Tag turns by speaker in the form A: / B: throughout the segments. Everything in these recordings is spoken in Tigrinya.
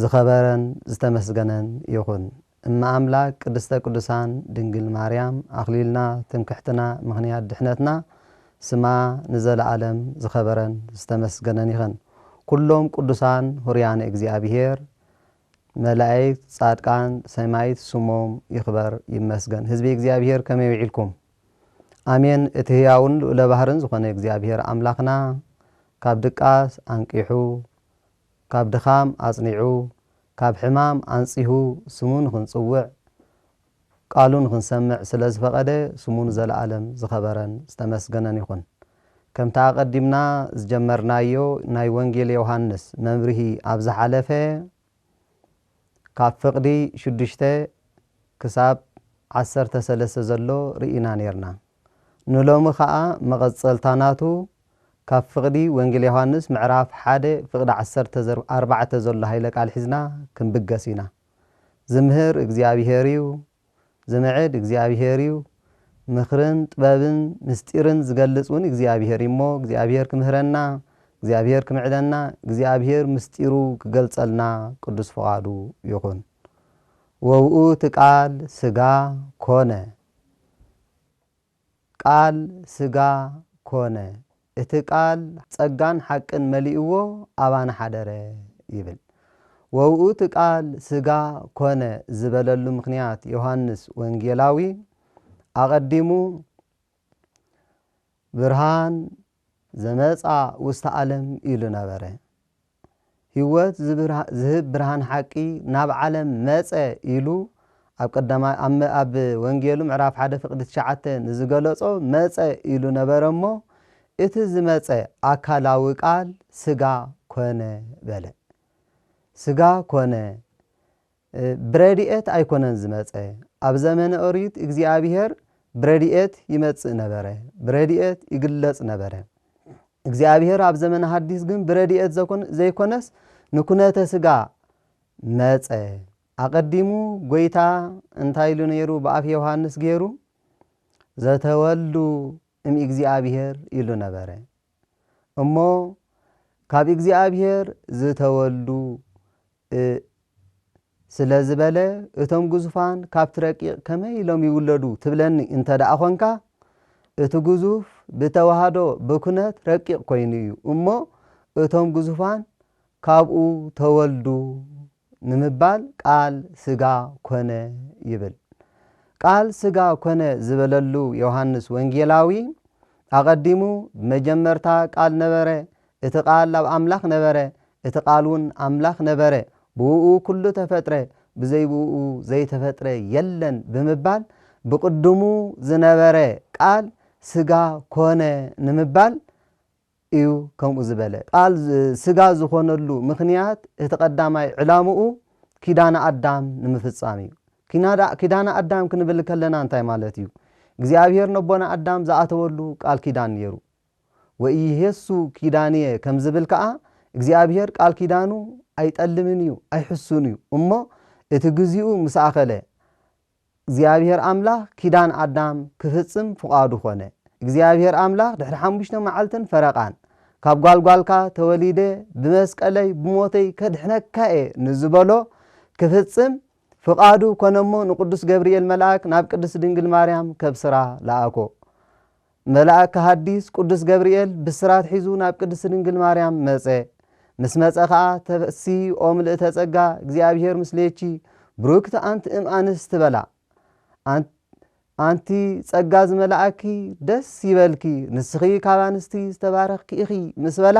A: ዝኸበረን ዝተመስገነን ይኹን እመ ኣምላክ ቅድስተ ቅዱሳን ድንግል ማርያም ኣኽሊልና ትምክሕትና ምኽንያት ድሕነትና ስማ ንዘለኣለም ዝኸበረን ዝተመስገነን ይኸን ኩሎም ቅዱሳን ሁሩያነ እግዚኣብሔር መላእክት ጻድቃን ሰማይት ስሞም ይኽበር ይመስገን ህዝቢ እግዚኣብሔር ከመይ ውዒልኩም ኣሜን እቲ ህያውን ልኡለ ባህርን ዝኾነ እግዚኣብሔር ኣምላኽና ካብ ድቃስ ኣንቂሑ ካብ ድኻም ኣጽኒዑ፣ ካብ ሕማም ኣንጺሁ ስሙ ንኽንጽውዕ፣ ቃሉ ንኽንሰምዕ ስለ ዝፈቐደ ስሙ ንዘለኣለም ዝኸበረን ዝተመስገነን ይኹን። ከምቲ ኣቐዲምና ዝጀመርናዮ ናይ ወንጌል ዮውሃንስ መብርሂ ኣብ ዝሓለፈ ካብ ፍቕዲ ሽዱሽተ ክሳብ ዓሰርተ ሰለስተ ዘሎ ርኢና ኔርና። ንሎሚ ከኣ መቐጸልታ ናቱ ካብ ፍቕዲ ወንጌል ዮሃንስ ምዕራፍ ሓደ ፍቕዲ ዓሰርተ ዘር ኣርባዕተ ዘሎ ሃይለ ቃል ሒዝና ክንብገስ ኢና። ዝምህር እግዚኣብሄር እዩ፣ ዝምዕድ እግዚኣብሄር እዩ፣ ምኽርን ጥበብን ምስጢርን ዝገልጽ ውን እግዚኣብሄር እዩ እሞ እግዚኣብሄር ክምህረና እግዚኣብሄር ክምዕደና እግዚኣብሄር ምስጢሩ ክገልጸልና ቅዱስ ፍቓዱ ይኹን። ወውእቱ ቃል ስጋ ኮነ። ቃል ስጋ ኮነ፣ እቲ ቃል ጸጋን ሓቅን መሊእዎ ኣባና ሓደረ ይብል። ወብኡ እቲ ቃል ስጋ ኮነ ዝበለሉ ምኽንያት ዮሃንስ ወንጌላዊ ኣቐዲሙ ብርሃን ዘመጽኣ ውስተ ኣለም ኢሉ ነበረ። ሕይወት ዝህብ ብርሃን ሓቂ ናብ ዓለም መጸ ኢሉ ኣብ ቀዳማይ ኣብ ወንጌሉ ምዕራፍ ሓደ ፍቅዲ ትሽዓተ ንዝገለጾ መጸ ኢሉ ነበረ እሞ እቲ ዝመጸ ኣካላዊ ቃል ስጋ ኮነ በለ። ስጋ ኮነ ብረድኤት ኣይኰነን ዝመጸ። ኣብ ዘመነ ኦሪት እግዚኣብሄር ብረድኤት ይመጽእ ነበረ፣ ብረድኤት ይግለጽ ነበረ። እግዚኣብሄር ኣብ ዘመነ ሓዲስ ግን ብረድኤት ዘኮን ዘይኰነስ ንኵነተ ስጋ መጸ። ኣቐዲሙ ጐይታ እንታይ ኢሉ ነይሩ ብኣፍ ዮሃንስ ገይሩ? ዘተወልዱ እምእግዚኣብሄር ኢሉ ነበረ። እሞ ካብ እግዚኣብሄር ዝተወልዱ ስለ ዝበለ እቶም ግዙፋን ካብቲ ረቂቕ ከመይ ኢሎም ይውለዱ ትብለኒ እንተደኣ ኾንካ፣ እቲ ግዙፍ ብተዋህዶ ብኩነት ረቂቕ ኮይኑ እዩ እሞ እቶም ግዙፋን ካብኡ ተወልዱ ንምባል ቃል ስጋ ኮነ ይብል። ቃል ስጋ ኮነ ዝበለሉ ዮሃንስ ወንጌላዊ ኣቐዲሙ ብመጀመርታ ቃል ነበረ፣ እቲ ቓል ኣብ ኣምላኽ ነበረ፣ እቲ ቓልውን ኣምላኽ ነበረ፣ ብእኡ ኵሉ ተፈጥረ፣ ብዘይ ብእኡ ዘይተፈጥረ የለን ብምባል ብቕድሙ ዝነበረ ቃል ስጋ ኮነ ንምባል እዩ ከምኡ ዝበለ። ቃል ስጋ ዝኾነሉ ምኽንያት እቲ ቀዳማይ ዕላምኡ ኪዳነ ኣዳም ንምፍጻም እዩ። ኪዳነ ኣዳም ክንብል ከለና እንታይ ማለት እዩ? እግዚኣብሄር ነቦና ኣዳም ዝኣተወሉ ቃል ኪዳን ነይሩ። ወኢይሔሱ ኪዳንየ ከም ዝብል ከኣ እግዚኣብሔር ቃል ኪዳኑ ኣይጠልምን እዩ ኣይሕሱን እዩ እሞ እቲ ግዚኡ ምስ ኣኸለ እግዚኣብሔር ኣምላኽ ኪዳን ኣዳም ክፍጽም ፍቓዱ ኮነ እግዚኣብሔር ኣምላኽ ድሕሪ ሓሙሽተ መዓልትን ፈረቓን ካብ ጓል ጓልካ ተወሊደ ብመስቀለይ ብሞተይ ከድሕነካ እየ ንዝበሎ ክፍጽም ፍቓዱ ኮነ እሞ ንቅዱስ ገብርኤል መልኣክ ናብ ቅድስት ድንግል ማርያም ከብስራ ለኣኮ መልኣከ ሃዲስ ቁዱስ ገብርኤል ብስራት ሒዙ ናብ ቅድስቲ ድንግል ማርያም መጸ ምስ መጸ ከኣ ተፈሲ ኦ ምልእተ ጸጋ እግዚኣብሔር ምስሌኪ ብሩክት ኣንቲ እም ኣንስት በላ ኣን ኣንቲ ጸጋ ዝመላኣኪ ደስ ይበልኪ ንስኺ ካብ ኣንስቲ ዝተባረኽኪ ኢኺ ምስ በላ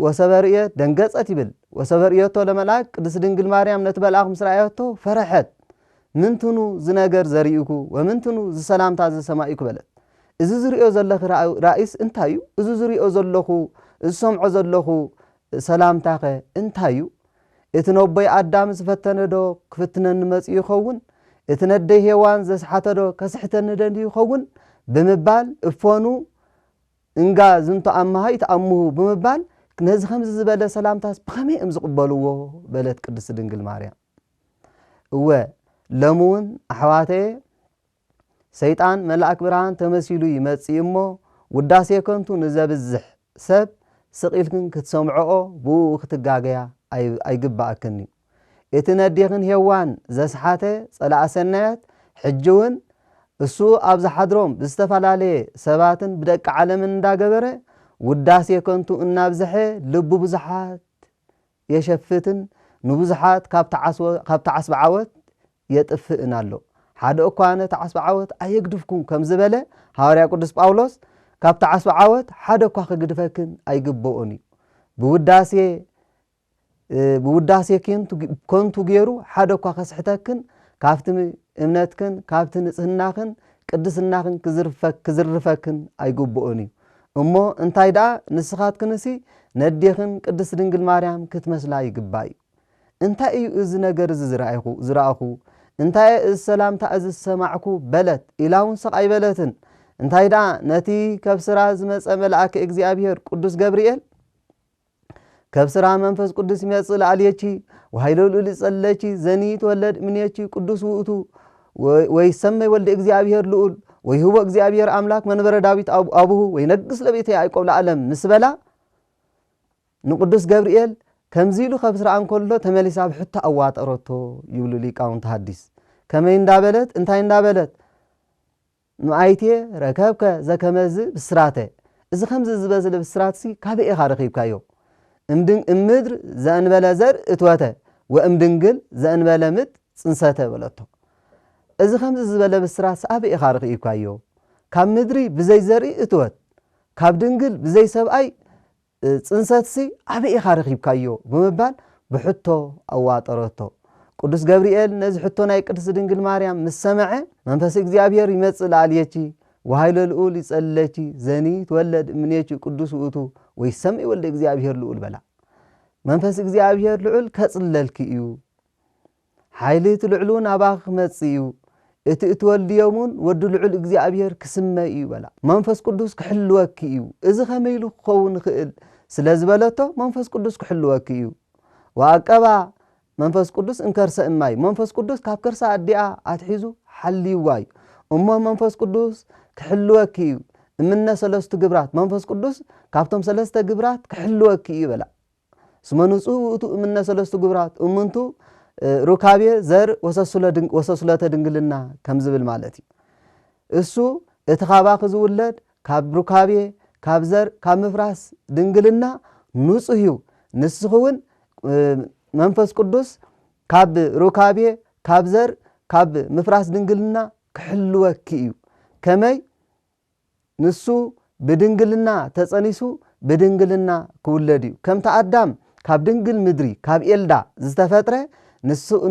A: ወሰበ ርእየ ደንገጸት ይብል ወሰበ ርእየቶ ለመልኣክ ቅድስት ድንግል ማርያም ነቲ መልኣኽ ምስ ረኣየቶ ፈረሐት ምንትኑ ዝነገር ዘርኢኩ ወምንትኑ ዝሰላምታ ዝሰማኢኩ በለት እዚ ዝርእዮ ዘለኺ ራእይስ እንታይ እዩ እዚ ዝርእዮ ዘለኹ ዝሰምዖ ዘለኹ ሰላምታኸ እንታይ እዩ እቲ ነቦይ ኣዳም ዝፈተነዶ ክፍትነኒ መጺኡ ይኸውን እቲ ነደይ ሄዋን ዘስሓተዶ ከስሕተኒ ደልዩ ይኸውን ብምባል እፎኑ እንጋ ዝንቶ ኣማሃይ ተኣምሁ ብምባል ነዚ ከምዚ ዝበለ ሰላምታስ ብኸመይ እዮም ዝቕበልዎ? በለት ቅድስት ድንግል ማርያም። እወ ሎሚ እውን ኣሕዋተየ ሰይጣን መልኣክ ብርሃን ተመሲሉ ይመጽእ እሞ ውዳሴ ከንቱ ንዘብዝሕ ሰብ ስቕ ኢልክን ክትሰምዖኦ ብእኡ ክትጋገያ ኣይግብኣክን እዩ። እቲ ነዴኽን ሄዋን ዘስሓተ ጸላኢ ሰናያት ሕጂ ውን እሱ ኣብ ዝሓድሮም ብዝተፈላለየ ሰባትን ብደቂ ዓለምን እንዳገበረ ውዳሴ ከንቱ እናብዝሐ ልቢ ብዙሓት የሸፍትን ንብዙሓት ካብቲ ዓስቢ ዓወት የጥፍእን ኣሎ ሓደ እኳ ነቲ ዓስቢ ዓወት ኣየግድፍኩም ከም ዝበለ ሃዋርያ ቅዱስ ጳውሎስ ካብቲ ዓስቢ ዓወት ሓደ እኳ ክግድፈክን ኣይግበኦን እዩ ብውዳሴ ብውዳሴ ከንቱ ገይሩ ሓደ እኳ ከስሕተክን ካብቲ እምነትክን ካብቲ ንጽህናኽን ቅድስናኽን ክዝርፈክን ኣይግብኦን እዩ እሞ እንታይ ደኣ ንስኻትክንሲ ነዴኽን ቅድስት ድንግል ማርያም ክትመስላ ይግባእ እዩ እንታይ እዩ እዚ ነገር እዚ ዝረኣይኹ ዝረኣኹ እንታይ እየ እዚ ሰላምታ እዚ ዝሰማዕኩ በለት ኢላ እውን ሰቕ ኣይበለትን እንታይ ደኣ ነቲ ከብስራ ዝመጸ መልኣከ እግዚኣብሔር ቅዱስ ገብርኤል ከብ ስራ መንፈስ ቅዱስ ይመጽእ ለኣልየቺ ወኃይለ ልዑል ይጸለቺ ዘኒ ይትወለድ እምኔቺ ቅዱስ ውእቱ ወይሰመይ ወልደ እግዚኣብሔር ልዑል ወይህቦ እግዚኣብሔር ኣምላክ መንበረ ዳዊት ኣቡሁ ወይነግስ ለቤተ ያዕቆብ ለዓለም ምስ በላ ንቅዱስ ገብርኤል ከምዚ ኢሉ ከብስራ እንከሎ ተመሊሳ ኣብ ሕቶ ኣዋጠረቶ ይብሉ ሊቃውንቲ ሐዲስ ከመይ እንዳበለት እንታይ እንዳበለት ንኣይቴ ረከብከ ዘከመዝ ብስራተ፣ እዚ ከምዚ ዝበዝለ ብስራትሲ ካበይ ኢኻ ረኺብካዮ? እምድንእምምድር ዘእንበለ ዘርእ እትወተ ወእምድንግል ዘእንበለ ምጥ ጽንሰተ በለቶ። እዚ ከምዚ ዝበለ ብስራትሲ ኣበይ ኢኻ ረኺብካዮ? ካብ ምድሪ ብዘይ ዘርኢ እትወት፣ ካብ ድንግል ብዘይ ሰብኣይ ጽንሰትሲ ኣበይ ኢኻ ረኺብካዮ? ብምባል ብሕቶ ኣዋጠረቶ። ቅዱስ ገብርኤል ነዚ ሕቶ ናይ ቅድስት ድንግል ማርያም ምስ ሰምዐ፣ መንፈስ እግዚኣብሔር ይመጽእ ለኣልየኪ፣ ወኃይለ ልዑል ይጸልለኪ፣ ዘኒ ይትወለድ እምኔኪ ቅዱስ ውእቱ ወይሰምይ ወልደ እግዚኣብሔር ልዑል በላ። መንፈስ እግዚኣብሔር ልዑል ከጽልለልኪ እዩ። ሓይሊ እቲ ልዑል እውን ኣባኺ ክመጽእ እዩ፣ እቲ እትወልድዮም እውን ወዲ ልዑል እግዚኣብሄር ክስመ እዩ በላ። መንፈስ ቅዱስ ክሕልወኪ እዩ፣ እዚ ከመይ ኢሉ ክኸውን ይኽእል ስለ ዝበለቶ፣ መንፈስ ቅዱስ ክሕልወኪ እዩ። ወኣቀባ መንፈስ ቅዱስ እምከርሰ እማ እዩ፣ መንፈስ ቅዱስ ካብ ከርሲ ኣዲኣ ኣትሒዙ ሓልይዋ እዩ። እሞ መንፈስ ቅዱስ ክሕልወኪ እዩ፣ እምነ ሰለስቱ ግብራት፣ መንፈስ ቅዱስ ካብቶም ሰለስተ ግብራት ክሕልወኪ እዩ በላ። እስመ ንጹሕ ውእቱ እምነ ሰለስቱ ግብራት እሙንቱ ሩካቤ ዘር ወሰሱለተ ድንግልና ከም ዝብል ማለት እዩ። እሱ እቲ ካባኺ ዝውለድ ካብ ሩካቤ ካብ ዘር ካብ ምፍራስ ድንግልና ንጹህ እዩ። ንስኺ እውን መንፈስ ቅዱስ ካብ ሩካቤ ካብ ዘር ካብ ምፍራስ ድንግልና ክሕልወኪ እዩ። ከመይ ንሱ ብድንግልና ተጸኒሱ ብድንግልና ክውለድ እዩ። ከምቲ ኣዳም ካብ ድንግል ምድሪ ካብ ኤልዳ ዝተፈጥረ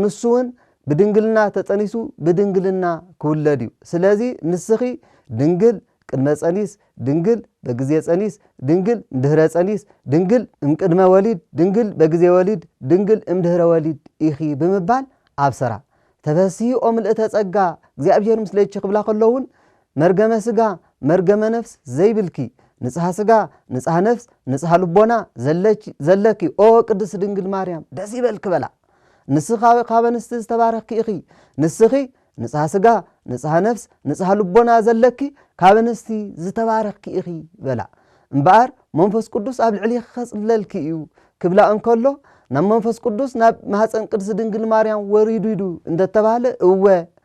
A: ንሱውን ብድንግልና ተጸኒሱ ብድንግልና ክውለድ እዩ። ስለዚ ንስኺ ድንግል ቅድመ ጸኒስ ድንግል በግዜ ጸኒስ ድንግል እምድህረ ጸኒስ ድንግል እምቅድመ ወሊድ ድንግል በግዜ ወሊድ ድንግል እምድህረ ወሊድ ኢኺ ብምባል ኣብሰራ። ተፈስሂ ኦ ምልእተ ጸጋ እግዚኣብሔር ምስሌኪ ክብላ ከሎውን መርገመ ስጋ መርገመ ነፍስ ዘይብልኪ ንጽሃ ስጋ ንጽሃ ነፍስ ንጽሃ ልቦና ዘለኪ ኦ ቅድስት ድንግል ማርያም ደስ ይበልኪ በላ ንስኺ ካብ ኣንስቲ ዝተባረኽኪ ኢኺ ንስኺ ንጽሃ ስጋ ንጽሃ ነፍስ ንጽሃ ልቦና ዘለኪ ካብ ኣንስቲ ዝተባረኽኪ ኢኺ በላ እምበኣር መንፈስ ቅዱስ ኣብ ልዕሊኺ ከጽለልኪ እዩ ክብላ እንከሎ ናብ መንፈስ ቅዱስ ናብ ማህፀን ቅድስት ድንግል ማርያም ወሪዱ እንደ ተባህለ እወ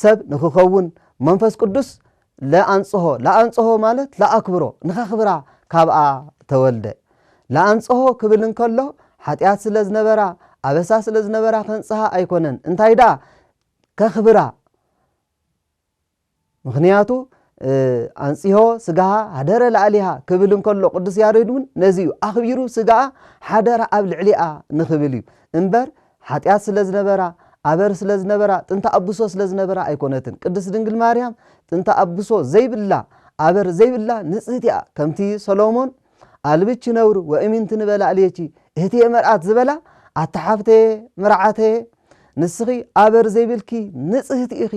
A: ሰብ ንክኸውን መንፈስ ቅዱስ ለኣንጽሆ፣ ለኣንጽሆ ማለት ለኣክብሮ፣ ንከኽብራ ካብኣ ተወልደ። ለኣንጽሆ ክብል እንከሎ ሓጢኣት ስለ ዝነበራ፣ ኣበሳ ስለ ዝነበራ ከንጽሃ ኣይኮነን፣ እንታይ ደኣ ከኽብራ፣ ምኽንያቱ ኣንጽሆ ስጋሃ ሃደረ ለኣሊሃ ክብል እንከሎ ቅዱስ ያሬድ እውን ነዚ እዩ ኣኽቢሩ ስጋኣ ሓደረ ኣብ ልዕሊኣ ንክብል እዩ እምበር ሓጢኣት ስለ ዝነበራ፣ ኣበር ስለ ዝነበራ፣ ጥንተ ኣብሶ ስለ ዝነበራ ኣይኮነትን። ቅድስት ድንግል ማርያም ጥንተ ኣብሶ ዘይብላ፣ ኣበር ዘይብላ ንጽህቲ እያ። ከምቲ ሰሎሞን ኣልብኪ ነውር ወእሚንቲ ንበላዕሌኪ እህትየ መርኣት ዝበላ፣ ኣታ ሓፍተየ መርዓተየ ንስኺ ኣበር ዘይብልኪ ንጽህቲ ኢኺ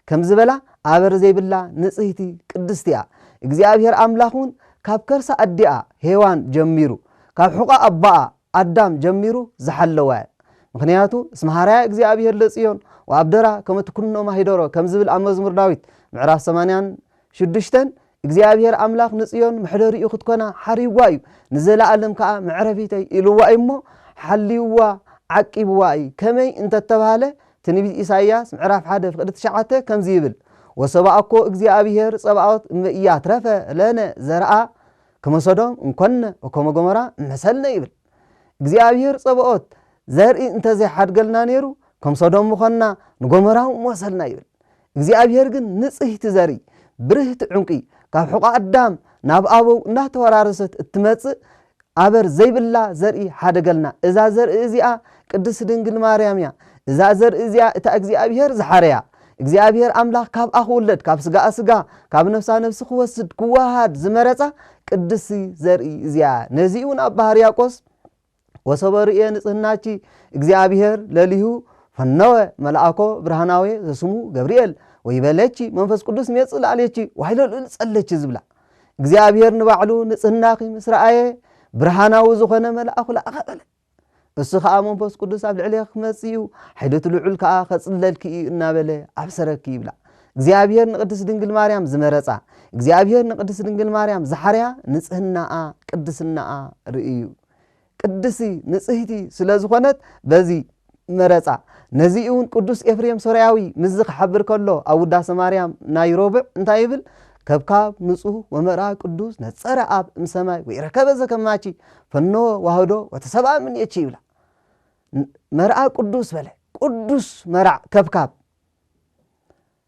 A: ከም ዝበላ ኣበር ዘይብላ ንጽህቲ ቅድስቲ እያ። እግዚኣብሔር ኣምላኽ እውን ካብ ከርሰ ኣዲኣ ሄዋን ጀሚሩ ካብ ሕቖ ኣቦኣ ኣዳም ጀሚሩ ዝሓለወ ምኽንያቱ እስመ ሐረያ እግዚኣብሔር ለጽዮን ወአብደራ ከመ ትኩንኖም ኀይደሮ ከም ዝብል ኣብ መዝሙር ዳዊት ምዕራፍ ሰማንያን ሽዱሽተን እግዚኣብሔር ኣምላኽ ንጽዮን መሕደሪኡ ክትኮና ሓሪይዋ እዩ ንዘለዓለም ከኣ መዕረፊተይ ኢልዋ እዩ እሞ ሓልይዋ ዓቂብዋ እዪ ከመይ እንተተባህለ ትንቢት ኢሳይያስ ምዕራፍ ሓደ ፍቅዲ ትሽዓተ ከምዚ ይብል ወሰብኣኮ እግዚኣብሔር ጸባኦት እመ ኢያትረፈ ለነ ዘርኣ ከመሶዶም እንኮነ ወከመጎመራ ምሐሰልነ ይብል እግዚኣብሔር ጸባኦት ዘርኢ እንተዘይሓድገልና ነይሩ ከም ሶዶም ምኾንና ንጎመራው ምወሰልና ይብል እግዚኣብሔር ግን ንጽህቲ ዘርኢ ብርህቲ ዑንቂ ካብ ሕቆ ኣዳም ናብ ኣበው እናተወራረሰት እትመጽእ ኣበር ዘይብላ ዘርኢ ሓደገልና እዛ ዘርኢ እዚኣ ቅድስት ድንግል ማርያም እያ እዛ ዘርኢ እዚኣ እታ እግዚኣብሔር ዝሓረያ እግዚኣብሄር ኣምላኽ ካብኣ ክውለድ፣ ካብ ስጋኣ ስጋ፣ ካብ ነፍሳ ነፍሲ ክወስድ፣ ክወሃሃድ፣ ዝመረጻ ቅድስቲ ዘርኢ እዚኣ እያ። ነዚ እውን ኣባ ሕርያቆስ ወሶበ ርእየ ንጽህናኪ እግዚኣብሄር ለሊሁ ፈነወ መልኣኮ ብርሃናዌ ዘስሙ ገብርኤል ወይቤለኪ መንፈስ ቅዱስ ይመጽእ ላዕሌኪ ዋይሎ ልዑል ጸለኪ ዝብላ እግዚኣብሄር ንባዕሉ ንጽህናኺ ምስ ረኣየ ብርሃናዊ ዝኾነ መልኣኹ ለኣኸ በለ። እሱ ኸኣ መንፈስ ቅዱስ ኣብ ልዕሌኺ ክመጽእ እዩ፣ ሓይሊ እቲ ልዑል ከኣ ኸጽለልኪ እዩ እናበለ ኣብሰረኪ ይብላ። እግዚኣብሄር ንቅድስት ድንግል ማርያም ዝመረጻ፣ እግዚኣብሄር ንቅድስት ድንግል ማርያም ዝሓረያ ንጽህናኣ፣ ቅድስናኣ ርእዩ። ቅድስቲ ንጽህቲ ስለ ዝኾነት በዚ መረጻ። ነዚ'ውን ቅዱስ ኤፍሬም ሶርያዊ ምስዚ ክሓብር ከሎ ኣብ ውዳሰ ማርያም ናይ ሮቡዕ እንታይ ይብል ከብካብ ንጹህ ወመርኣ ቅዱስ ነጸረ ኣብ እምሰማይ ወኢረከበ ዘከማቺ ፈነወ ዋህዶ ወተሰብኣ እምኔቺ ይብላ መርኣ ቅዱስ በለ ቅዱስ መርዕ ከብካብ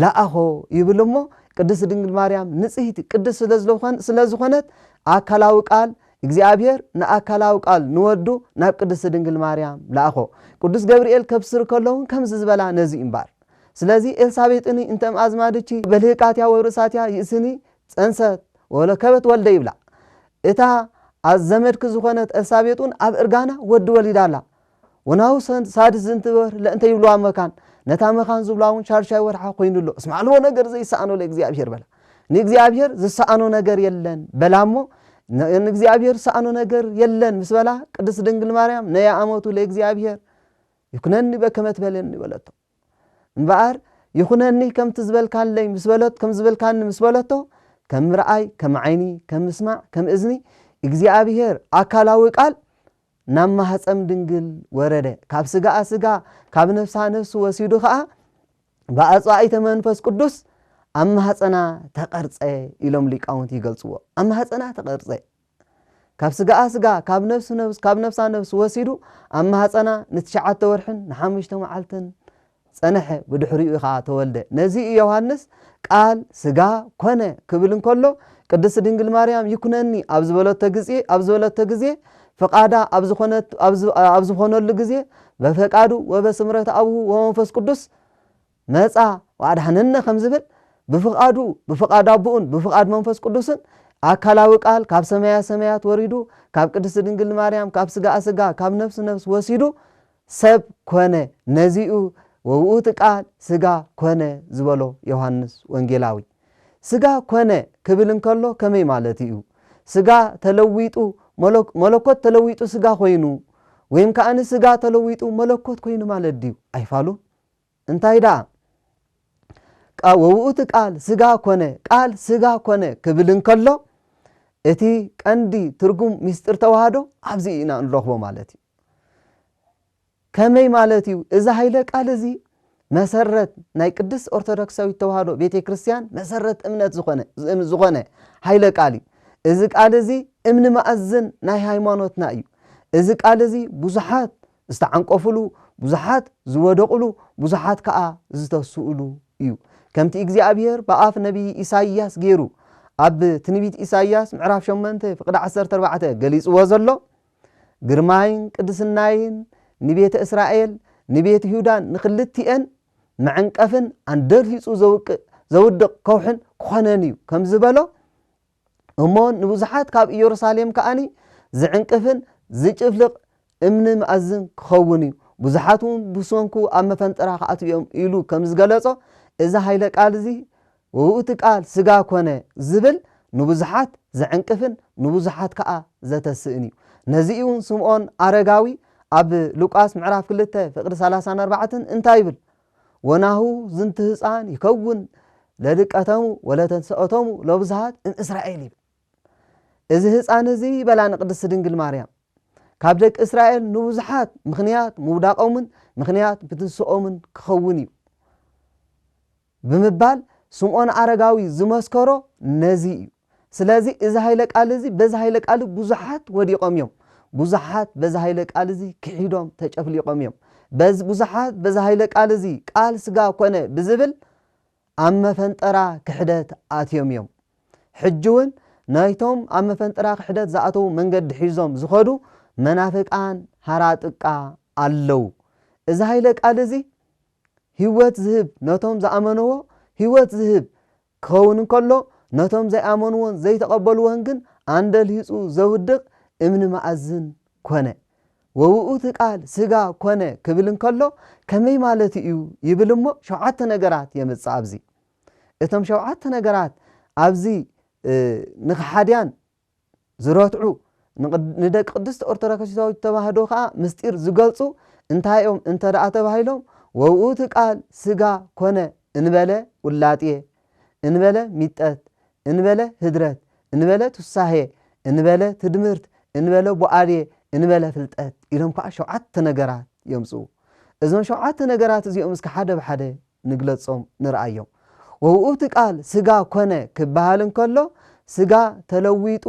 A: ለኣኾ ይብል እሞ ቅድስት ድንግል ማርያም ንጽህቲ ቅድስት ስለዝለኾን ስለዝኾነት ኣካላዊ ቃል እግዚኣብሔር ንኣካላዊ ቃል ንወዱ ናብ ቅድስት ድንግል ማርያም ለኣኾ ቅዱስ ገብርኤል ከብስር ከለውን ከምዚ ዝበላ ነዚ እምባር ስለዚ ኤልሳቤጥኒ እንተም ኣዝማድቺ በልህቃትያ ወብርእሳትያ ይእስኒ ጸንሰት ወለከበት ወልደ ይብላ እታ ኣዘመድኪ ዝኾነት ኤልሳቤጥውን ኣብ እርጋና ወዲ ወሊዳ ኣላ ወናው ሳድስ ዝንትበር ለእንተ ይብልዋ መካን ነታ መካን ዝብላውን ሻርሻይ ወርሓ ኮይኑሎ እስማዕልዎ ነገር ዘይሰኣኖ ለእግዚኣብሔር በላ ንእግዚኣብሔር ዝሰኣኖ ነገር የለን በላ እሞ ንእግዚኣብሔር ዝሰኣኖ ነገር የለን ምስ በላ ቅድስት ድንግል ማርያም ነያ ኣመቱ ለእግዚኣብሔር ይኩነኒ በከመ ትበለኒ በለቶ እምበኣር ይኹነኒ ከምቲ ዝበልካለይ ምስ በለት ከም ዝበልካኒ ምስ በለቶ ከም ምርኣይ ከም ዓይኒ ከም ምስማዕ ከም እዝኒ እግዚኣብሄር ኣካላዊ ቃል ናብ ማህፀም ድንግል ወረደ ካብ ስጋኣ ስጋ ካብ ነፍሳ ነፍሲ ወሲዱ ከዓ ብኣፅዋኢተ መንፈስ ቅዱስ ኣብ ማህፀና ተቐርፀ ኢሎም ሊቃውንቲ ይገልፅዎ ኣብ ማህፀና ተቐርፀ ካብ ስጋኣ ስጋ ካብ ነብሱ ነብስ ካብ ነብሳ ነብስ ወሲዱ ኣብ ማህጸና ንትሽዓተ ወርሕን ንሓሙሽተ መዓልትን ጸነሐ ብድሕሪኡ ከኣ ተወልደ ነዚ እዩ ዮሃንስ ቃል ስጋ ኮነ ክብል እንከሎ ቅድስት ድንግል ማርያም ይኩነኒ ኣብ ዝበለቶ ግዜ ኣብ ዝበለቶ ግዜ ፍቃዳ ኣብ ዝኾነት ኣብ ዝኾነሉ ግዜ በፈቃዱ ወበስምረት ኣብሁ ወመንፈስ ቅዱስ መጻ ወኣድኀነነ ከም ዝብል፣ ብፍቓዱ፣ ብፍቓድ ኣቦኡን ብፍቓድ መንፈስ ቅዱስን፣ ኣካላዊ ቃል ካብ ሰማየ ሰማያት ወሪዱ፣ ካብ ቅድስት ድንግል ማርያም ካብ ሥጋኣ ሥጋ ካብ ነፍስ ነፍስ ወሲዱ ሰብ ኮነ፣ ነዚ'ዩ ወውእቱ ቃል ሥጋ ኮነ ዝበሎ ዮሓንስ ወንጌላዊ። ሥጋ ኮነ ክብል እንከሎ ከመይ ማለቱ'ዩ? ሥጋ ተለዊጡ መለኮት ተለዊጡ ሥጋ ኮይኑ ወይም ከኣ ሥጋ ተለዊጡ መለኮት ኮይኑ ማለት ድዩ? ኣይፋሉን። እንታይ ደኣ ቃ ወውእቱ ቃል ስጋ ኮነ ቃል ስጋ ኮነ ክብል እንከሎ እቲ ቀንዲ ትርጉም ምስጢር ተዋህዶ ኣብዚ ኢና እንረኽቦ ማለት እዩ። ከመይ ማለት እዩ እዚ ሃይለ ቃል እዚ መሰረት ናይ ቅድስት ኦርቶዶክሳዊት ተዋህዶ ቤተ ክርስቲያን መሰረት እምነት ዝኾነ ዝኾነ ሃይለ ቃል እዩ። እዚ ቃል እዚ እምኒ ማእዝን ናይ ሃይማኖትና እዩ። እዚ ቃል እዚ ብዙሓት ዝተዓንቀፉሉ፣ ብዙሓት ዝወደቑሉ፣ ብዙሓት ከኣ ዝተስኡሉ እዩ። ከምቲ እግዚኣብሄር ብኣፍ ነብዪ ኢሳይያስ ገይሩ ኣብ ትንቢት ኢሳይያስ ምዕራፍ ሸሞንተ ፍቕዲ ዓሰርተ ኣርባዕተ ገሊጽዎ ዘሎ፣ ግርማይን ቅድስናይን ንቤተ እስራኤል ንቤት ይሁዳን ንኽልቲኤን መዐንቀፍን ኣንደልሂጹ ዘውቅእ ዘውድቕ ከውሕን ክኾነን እዩ ከም ዝበሎ፣ እሞ ንብዙሓት ካብ ኢየሩሳሌም ከኣ ዚዕንቅፍን ዚጭፍልቕ እምኒ መኣዝን ኪኸውን እዩ፣ ብዙሓትውን ብሰንኩ ኣብ መፈንጠራ ኺኣትዉ እዮም ኢሉ ከም ዝገለጾ፣ እዚ ኃይለ ቃል እዚ ውእቱ ቃል ሥጋ ኮነ ዚብል ንብዙሓት ዚዕንቅፍን ንብዙሓት ከኣ ዘተስእን እዩ። ነዚ እዩውን ስምዖን ኣረጋዊ ኣብ ሉቃስ ምዕራፍ ክልተ ፍቕዲ ሰላሳን ኣርባዕትን እንታይ ይብል? ወናሁ ዝንቱ ህፃን ይከውን ለድቀተሙ ወለተንሰኦቶሙ ሎብዝሃት እምእስራኤል ይብል እዚ ህፃን እዚ ይበላ ንቅድስት ድንግል ማርያም ካብ ደቂ እስራኤል ንብዙሓት ምክንያት ምውዳቆምን ምክንያት ብትንስኦምን ክኸውን እዩ ብምባል ስምዖን ኣረጋዊ ዝመስከሮ ነዚ እዩ ስለዚ እዚ ሃይለ ቃል እዚ በዚ ሃይለ ቃል ብዙሓት ወዲቆም እዮም ብዙሓት በዚ ሃይለ ቃል እዚ ክሒዶም ተጨፍሊቆም እዮም በዚ ብዙሓት በዚ ሃይለ ቃል እዚ ቃል ስጋ ኮነ ብዝብል ኣብ መፈንጠራ ክሕደት ኣትዮም እዮም ሕጂ እውን ናይቶም ኣብ መፈንጠራ ክሕደት ዝኣተዉ መንገዲ ሒዞም ዝኸዱ መናፍቃን ሃራጥቃ ኣለዉ እዚ ሃይለ ቃል እዚ ህይወት ዝህብ ነቶም ዝኣመንዎ ህይወት ዝህብ ክኸውን እንከሎ፣ ነቶም ዘይኣመንዎን ዘይተቐበልዎን ግን ኣንደልሂጹ ዘውድቕ እምኒ መኣዝን ኰነ። ወውእቱ ቃል ስጋ ኰነ ክብል እንከሎ ከመይ ማለቱ እዩ ይብል እሞ ሸውዓተ ነገራት የምጽእ ኣብዚ። እቶም ሸውዓተ ነገራት ኣብዚ ንከሓድያን ዝረትዑ፣ ንደቂ ቅድስት ኦርቶዶክሲሳዊት ተዋህዶ ከኣ ምስጢር ዝገልጹ እንታይ እዮም እንተ ደኣ ተባሂሎም ወውእቱ ቃል ሥጋ ኮነ እንበለ ውላጥየ፣ እንበለ ሚጠት፣ እንበለ ህድረት፣ እንበለ ቱሳሔ፣ እንበለ ትድምርት፣ እንበለ ቡኣልየ፣ እንበለ ፍልጠት ኢሎም ከኣ ሸውዓተ ነገራት የምጽኡ። እዞም ሸውዓተ ነገራት እዚኦም እስከ ሓደ ብሓደ ንግለጾም ንርኣዮም። ወውእቱ ቃል ሥጋ ኮነ ክበሃል እንከሎ ሥጋ ተለዊጡ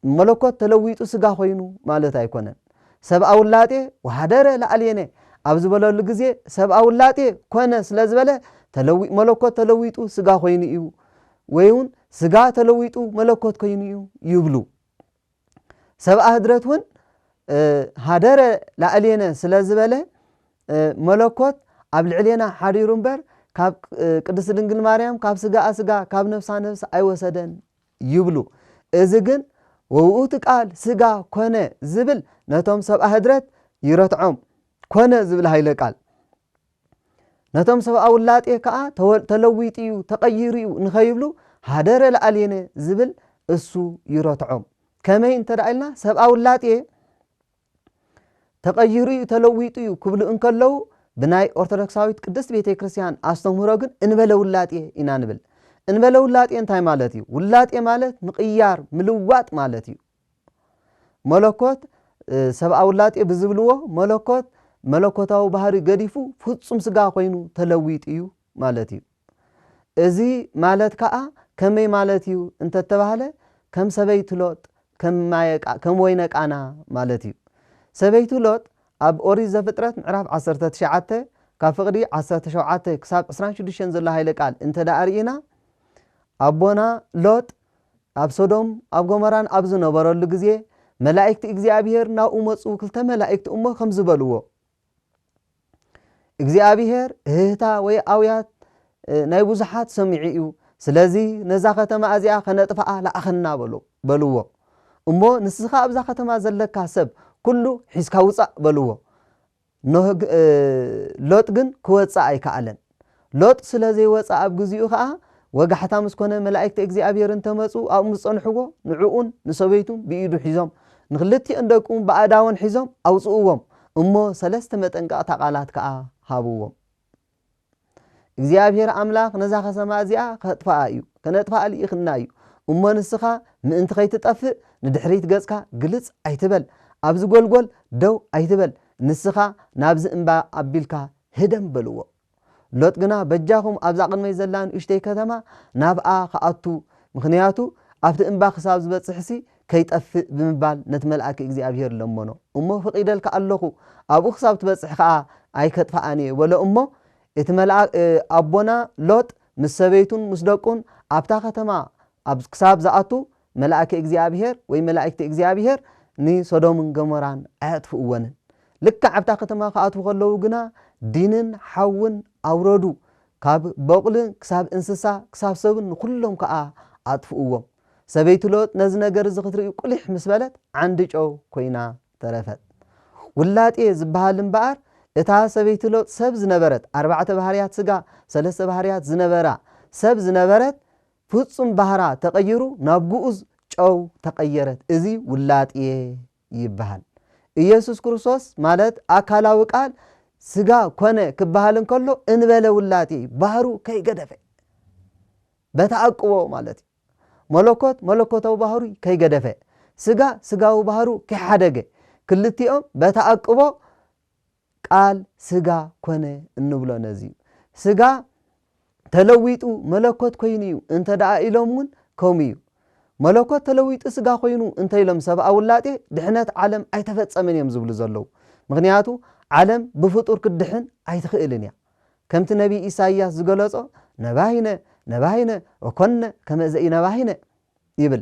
A: መለኮት ተለዊጡ ሥጋ ኮይኑ ማለት ኣይኮነን። ሰብኣ ውላጤ ወኃደረ ላዕሌነ ኣብ ዝበለሉ ግዜ ሰብኣ ውላጤ ኮነ ስለ ዝበለ ተለዊ መለኮት ተለዊጡ ሥጋ ኮይኑ እዩ ወይውን ሥጋ ተለዊጡ መለኮት ኮይኑ እዩ ይብሉ። ሰብኣ ህድረት እውን ሃደረ ላዕሌነ ስለ ዝበለ መለኮት ኣብ ልዕሌና ሓዲሩ እምበር ካብ ቅድስት ድንግል ማርያም ካብ ስጋኣ ስጋ ካብ ነፍሳ ነፍሲ ኣይወሰደን ይብሉ እዚ ግን ወውኡቲ ቃል ስጋ ኮነ ዝብል ነቶም ሰብኣ ህድረት ይረትዖም ኮነ ዝብል ሃይለ ቃል ነቶም ሰብኣዊ ውላጤ ከኣ ተወ ተለዊጡ'ዩ፣ ተቐይሩ'ዩ ንኸይብሉ ሃደረ ለኣልየነ ዝብል እሱ ይረትዖም። ከመይ እንተ ኢልና ሰብኣዊ ውላጤ ተቐይሩ'ዩ፣ ተለዊጡ'ዩ ክብሉ እንከለዉ ብናይ ኦርቶዶክሳዊት ቅድስት ቤተ ክርስቲያን ኣስተምህሮ ግን እንበለ ውላጤ ኢና ንብል። እንበለ ውላጤ እንታይ ማለት'ዩ? ውላጤ ማለት ምቕያር፣ ምልዋጥ ማለት'ዩ። መለኮት ሰብኣዊ ውላጤ ብዝብልዎ መለኮት መለኮታዊ ባህሪ ገዲፉ ፍጹም ስጋ ኮይኑ ተለዊጡ እዩ ማለት እዩ። እዚ ማለት ከኣ ከመይ ማለት እዩ እንተተባህለ ከም ሰበይቱ ሎጥ ከም ወይነ ቃና ማለት እዩ። ሰበይቱ ሎጥ ኣብ ኦሪት ዘፍጥረት ምዕራፍ ዓሰርተ ትሽዓተ ካብ ፍቕዲ ዓሰርተ ሸውዓተ ክሳብ ዕስራን ሽዱሽተን ዘሎ ሃይለ ቃል እንተደኣ ርኢና ኣቦና ሎጥ ኣብ ሶዶም ኣብ ጎመራን ኣብ ዝነበረሉ ግዜ መላኢክት እግዚኣብሄር ናብኡ መጹ ክልተ መላኢክት እሞ ከምዚ በልዎ እግዚኣብሄር እህህታ ወይ ኣውያት ናይ ብዙሓት ሰሚዑ እዩ ስለዚ ነዛ ከተማ እዚኣ ከነጥፍኣ ለኣኸና በሉ በልዎ እሞ ንስኻ ኣብዛ ከተማ ዘለካ ሰብ ኩሉ ሒዝካ ውጻእ በልዎ ኖህ ግ ሎጥ ግን ክወጽእ ኣይከኣለን። ሎጥ ስለ ዘይወጸ ኣብ ግዚኡ ከኣ ወጋሕታ ምስ ኮነ መላኢክቲ እግዚኣብሔር እንተ መጹ ኣብኡ ምስ ጸንሕዎ ንዕኡን ንሰበይቱን ብኢዱ ሒዞም ንክልቲኦን ደቁን ብኣእዳወን ሒዞም ኣውጽእዎም እሞ ሰለስተ መጠንቀቕታ ቃላት ከኣ ሃብዎም። እግዚኣብሄር ኣምላኽ ነዛ ኸተማ እዚኣ ኼጥፍኣ እዩ፣ ከነጥፍኣ ልኢኹና እዩ። እሞ ንስኻ ምእንቲ ኸይትጠፍእ፣ ንድሕሪት ገጽካ ግልጽ ኣይትበል፣ ኣብዚ ጐልጐል ደው ኣይትበል፣ ንስኻ ናብዚ እምባ ኣቢልካ ህደም በልዎ። ሎጥ ግና፣ በጃኹም ኣብዛ ቕድመይ ዘላ ንእሽተይ ከተማ ናብኣ ኽኣቱ፣ ምኽንያቱ ኣብቲ እምባ ኽሳብ ዝበጽሕሲ ከይጠፍእ ብምባል ነቲ መልኣከ እግዚኣብሄር ለመኖ እሞ ፈቒደልካ ኣሎኹ፣ ኣብኡ ክሳብ ትበጽሕ ኸኣ ኣይከጥፍኣን እየ በሎ እሞ፣ እቲ መልኣክ ኣቦና ሎጥ ምስ ሰበይቱን ምስ ደቁን ኣብታ ከተማ ኣብ ክሳብ ዝኣቱ መልኣከ እግዚኣብሄር ወይ መላኢክቲ እግዚኣብሄር ንሶዶምን ገሞራን ኣየጥፍእወንን። ልክዕ ኣብታ ከተማ ክኣትዉ ከለዉ ግና ዲንን ሓውን ኣውረዱ፣ ካብ በቑሊ ክሳብ እንስሳ ክሳብ ሰብን ንኹሎም ከኣ ኣጥፍእዎም። ሰበይቲ ሎጥ ነዚ ነገር እዚ ክትርኢ ቍሊሕ ምስ በለት ዓንዲ ጨው ኰይና ተረፈት። ውላጤ ዝበሃል እምበኣር እታ ሰበይቲ ሎጥ ሰብ ዝነበረት፣ ኣርባዕተ ባህርያት ስጋ፣ ሰለስተ ባህርያት ዝነበራ ሰብ ዝነበረት፣ ፍጹም ባህራ ተቐይሩ ናብ ግኡዝ ጨው ተቐየረት። እዚ ውላጤ ይበሃል። ኢየሱስ ክርስቶስ ማለት ኣካላዊ ቃል ሥጋ ኮነ ክበሃል እንከሎ እንበለ ውላጤ ባህሩ ከይገደፈ በተኣቅቦ ማለት እዩ። መለኮት መለኮታዊ ባህሩ ከይገደፈ ሥጋ ሥጋዊ ባህሩ ከይሓደገ ክልቲኦም በተኣቅቦ ቃል ስጋ ኮነ እንብሎ ነዚ እዩ። ስጋ ተለዊጡ መለኮት ኮይኑ እዩ እንተ ደኣ ኢሎም እውን ከምኡ እዩ። መለኮት ተለዊጡ ስጋ ኮይኑ እንተ ኢሎም ሰብኣዊ ውላጤ ድሕነት ዓለም ኣይተፈጸመን እዮም ዝብሉ ዘለዉ። ምኽንያቱ ዓለም ብፍጡር ክትድሕን ኣይትኽእልን እያ። ከምቲ ነቢይ ኢሳይያስ ዝገለጾ ነባሂነ ነባሂነ ወኮንነ ከመ ዘኢነባሂነ ይብል።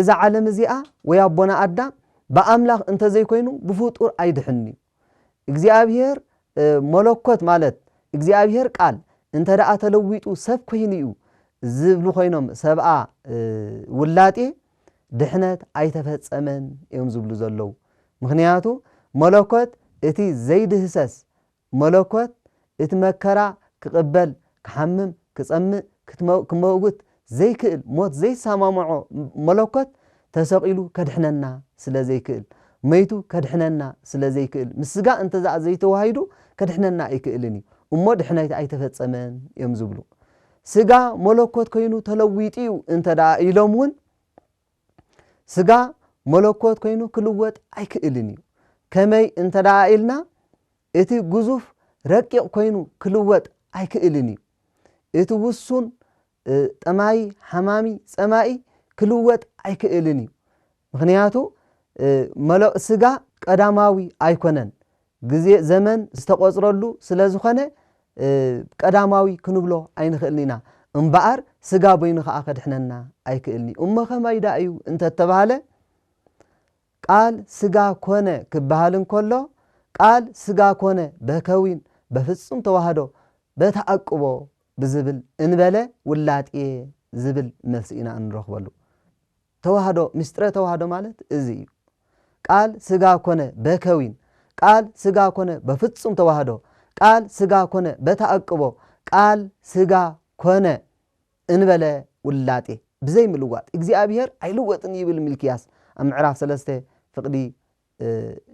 A: እዛ ዓለም እዚኣ ወይ ኣቦና ኣዳም ብኣምላኽ እንተዘይኮይኑ ብፍጡር ኣይድሕንን'ዩ። እግዚኣብሄር መለኮት ማለት እግዚኣብሄር ቃል እንተደኣ ተለዊጡ ሰብ ኮይኑ'ዩ ዝብሉ ኮይኖም ሰብኣ ውላጤ ድሕነት ኣይተፈጸመን እዮም ዝብሉ ዘለዉ። ምኽንያቱ መለኮት እቲ ዘይድህሰስ መለኮት እቲ መከራ ክቕበል፣ ክሓምም፣ ክጸምእ፣ ክትመ ክመውት ዘይክእል ሞት ዘይሰማምዖ መለኮት ተሰቒሉ ከድሕነና ስለ ዘይክእል፣ መይቱ ከድሕነና ስለ ዘይክእል፣ ምስ ስጋ እንተዘኣ ዘይተዋሂዱ ከድሕነና ኣይክእልን እዩ እሞ ድሕነት ኣይተፈጸመን እዮም ዝብሉ። ስጋ መለኮት ኮይኑ ተለዊጡ እዩ እንተደኣ ኢሎም እውን፣ ስጋ መለኮት ኮይኑ ክልወጥ ኣይክእልን እዩ። ከመይ እንተደኣ ኢልና እቲ ግዙፍ ረቂቕ ኮይኑ ክልወጥ ኣይክእልን እዩ። እቲ ውሱን ጠማዪ፣ ሓማሚ፣ ጸማኢ ክልወጥ ኣይክእልን እዩ። ምኽንያቱ ስጋ ቀዳማዊ ኣይኮነን ግዜ ዘመን ዝተቖጽረሉ ስለ ዝኾነ ቀዳማዊ ክንብሎ ኣይንኽእልን ኢና። እምበኣር ስጋ በይኑ ከኣ ከድሕነና ኣይክእልን'ዩ። እሞ ከማይ ደኣ እዩ እንተ ተባህለ፣ ቃል ስጋ ኮነ ክበሃል እንከሎ፣ ቃል ስጋ ኮነ በከዊን፣ በፍጹም ተዋህዶ፣ በተኣቅቦ ብዝብል እንበለ ውላጤ ዝብል መልሲ ኢና እንረኽበሉ። ተዋህዶ ምስጢረ ተዋህዶ ማለት እዚ እዩ ቃል ስጋ ኮነ በከዊን ቃል ስጋ ኮነ በፍጹም ተዋህዶ ቃል ስጋ ኮነ በተኣቅቦ ቃል ስጋ ኮነ እንበለ ውላጤ ብዘይ ምልዋጥ እግዚኣብሔር ኣይልወጥን ይብል ሚልክያስ ኣብ ምዕራፍ ሰለስተ ፍቅዲ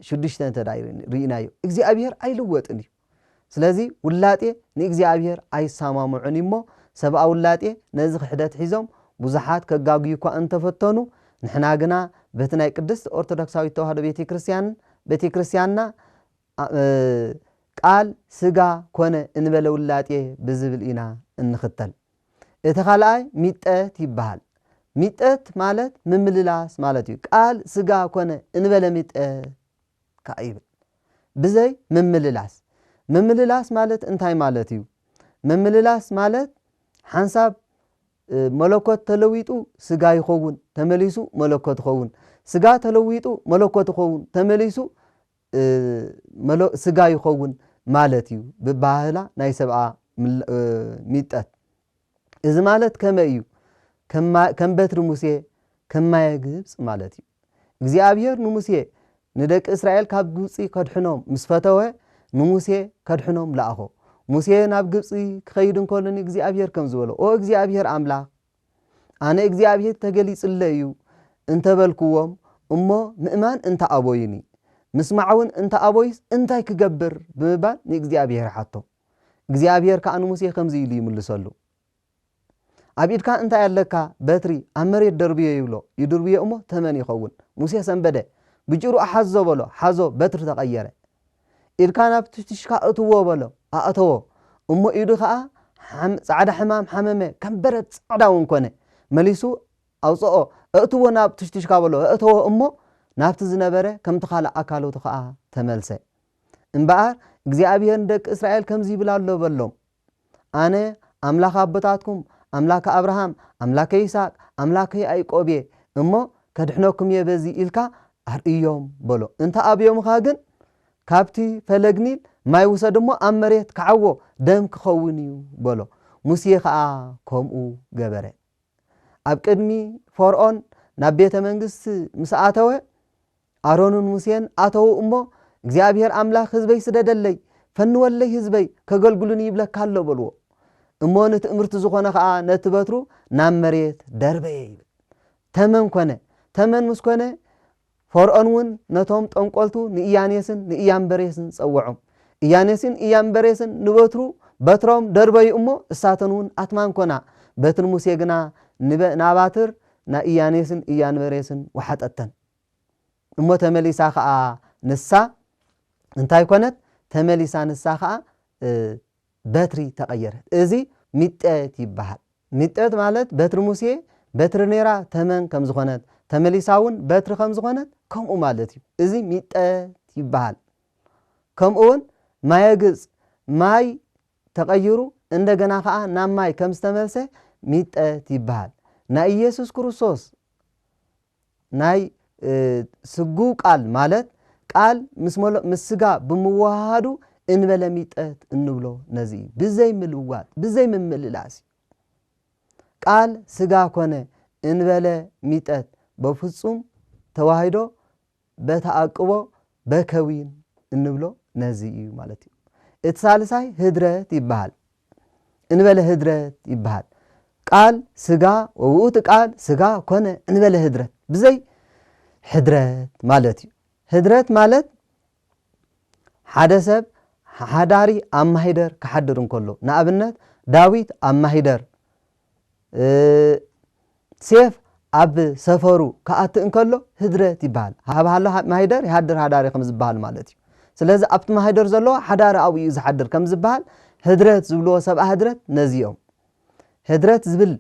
A: ሽዱሽተ እንተ ርኢናዮ እግዚኣብሄር ኣይልወጥን እዩ ስለዚ ውላጤ ንእግዚኣብሄር ኣይሳማምዑን እዩሞ ሰብኣ ውላጤ ነዚ ክሕደት ሒዞም ብዙሓት ከጋግዩ እኳ እንተፈተኑ ንሕና ግና በቲ ናይ ቅድስት ኦርቶዶክሳዊት ተዋህዶ ቤተ ክርስቲያን ቤተ ክርስቲያንና ቃል ስጋ ኮነ እንበለ ውላጤ ብዝብል ኢና እንኽተል እቲ ካልኣይ ሚጠት ይበሃል። ሚጠት ማለት ምምልላስ ማለት እዩ። ቃል ስጋ ኮነ እንበለ ሚጠት ከኣ ይብል። ብዘይ ምምልላስ። ምምልላስ ማለት እንታይ ማለት እዩ? ምምልላስ ማለት ሓንሳብ መለኮት ተለዊጡ ስጋ ይኸውን ተመሊሱ መለኮት ይኸውን። ስጋ ተለዊጡ መለኮት ይኸውን ተመሊሱ መለ ስጋ ይኸውን ማለት እዩ ብኣባሃህላ ናይ ሰብኣ ሚጠት። እዚ ማለት ከመይ እዩ? ከም በትሪ ሙሴ ከም ማየ ግብጽ ማለት እዩ። እግዚኣብሔር ንሙሴ ንደቂ እስራኤል ካብ ግብጺ ከድሕኖም ምስ ፈተወ ንሙሴ ከድሕኖም ለኣኾ። ሙሴ ናብ ግብጺ ክኸይድ እንከሎ ንእግዚኣብሔር ከም ዝበሎ ኦ እግዚኣብሔር ኣምላኽ ኣነ እግዚኣብሄር ተገሊጹለይ እዩ እንተ በልኩዎም እሞ ምእማን እንተ ኣበዩኒ፣ ምስማዕውን እንተ ኣበዩስ እንታይ ክገብር? ብምባል ንእግዚኣብሄር ሓቶ። እግዚኣብሄር ከኣ ንሙሴ ከምዚ ኢሉ ይምልሰሉ፣ ኣብ ኢድካ እንታይ ኣለካ? በትሪ፣ ኣብ መሬት ደርብዮ ይብሎ። ይድርብዮ እሞ ተመን ይኸውን። ሙሴ ሰንበደ፣ ብጭሩ እሓዞ በሎ፣ ሓዞ፣ በትሪ ተቐየረ። ኢድካ ናብ ትሽትሽካ ኣእትዎ በሎ። ኣእተዎ። እሞ ኢዱ ኸኣ ጻዕዳ ሕማም ሓመመ፣ ከም በረድ ጻዕዳ እውን ኰነ። መሊሱ ኣውጽኦ፣ ኣእትዎ ናብ ትሽትሽካ በሎ። ኣእተዎ እሞ ናብቲ ዝነበረ ከምቲ ኻልእ ኣካላቱ ኸኣ ተመልሰ። እምበኣር እግዚኣብሄር ንደቂ እስራኤል ከምዚ ይብል ኣሎ በሎም፣ ኣነ ኣምላኽ ኣቦታትኩም፣ ኣምላከ ኣብርሃም፣ ኣምላከ ይስሃቅ፣ ኣምላከ ያእቆብ እየ እሞ፣ ከድሕነኩም እየ በዚ ኢልካ ኣርእዮም በሎ። እንተ ኣብዮምኻ ግን ካብቲ ፈለግ ኒል ማይ ውሰድ እሞ ኣብ መሬት ክዓዎ፣ ደም ክኸውን እዩ በሎ። ሙሴ ኸኣ ከምኡ ገበረ። ኣብ ቅድሚ ፈርኦን ናብ ቤተ መንግስቲ ምስ ኣተወ፣ ኣሮንን ሙሴን ኣተዉ እሞ፣ እግዚኣብሄር ኣምላኽ ህዝበይ ስደደለይ፣ ፈንወለይ ህዝበይ ከገልግሉኒ ይብለካ ኣሎ በልዎ። እሞ ንትእምርቲ ዝኾነ ኸኣ ነቲ በትሩ ናብ መሬት ደርበየ ይብል። ተመን ኮነ። ተመን ምስ ኮነ ፈርኦንውን ነቶም ጠንቆልቱ ንኢያኔስን ንኢያምበሬስን ጸወዖም። ኢያኔስን ኢያምበሬስን ንበትሩ በትሮም ደርበዩ እሞ እሳተንውን ኣትማን ኮና። በትሪ ሙሴ ግና ንበ ናባትር ናይ ኢያኔስን ኢያንበሬስን ወሓጠተን። እሞ ተመሊሳ ከኣ ንሳ እንታይ ኮነት? ተመሊሳ ንሳ ከኣ በትሪ ተቐየረት። እዚ ሚጠት ይበሃል። ሚጠት ማለት በትሪ ሙሴ በትሪ ነይራ ተመን ከም ዝኾነት፣ ተመሊሳ እውን በትሪ ከም ዝኾነት ከምኡ ማለት እዩ። እዚ ሚጠት ይበሃል። ከምኡ እውን ማየ ግብፅ ማይ ተቐይሩ እንደገና ከኣ ናብ ማይ ከም ዝተመልሰ ሚጠት ይበሃል። ናይ ኢየሱስ ክርስቶስ ናይ ስግው ቃል ማለት ቃል ምስ ስጋ ብምውህሃዱ እንበለ ሚጠት እንብሎ ነዚ እዩ። ብዘይ ምልዋጥ ብዘይ ምምልላስ እዩ። ቃል ስጋ ኮነ እንበለ ሚጠት በፍፁም ተዋሂዶ በተኣቅቦ በከዊን እንብሎ ነዚ እዩ ማለት እዩ። እቲ ሳልሳይ ህድረት ይበሃል። እንበለ ህድረት ይበሃል። ቃል ስጋ ወውእቱ ቃል ስጋ ኮነ እንበለ ህድረት ብዘይ ሕድረት ማለት እዩ። ህድረት ማለት ሓደ ሰብ ሓዳሪ ኣብ ማሂደር ክሓድር እንከሎ ንኣብነት ዳዊት ኣብ ማሂደር ሴፍ ኣብ ሰፈሩ ክኣቲ እንከሎ ህድረት ይበሃል። ሃብሃሎ ማሂደር ይሃድር ሃዳሪ ከም ዝበሃሉ ማለት እዩ። ስለዚ ኣብቲ ማሂደር ዘሎ ሓዳሪ ኣብኡ እዩ ዝሓድር ከም ዝበሃል ህድረት ዝብልዎ ሰብኣ ህድረት ነዚ እዮም። ህድረት ዝብል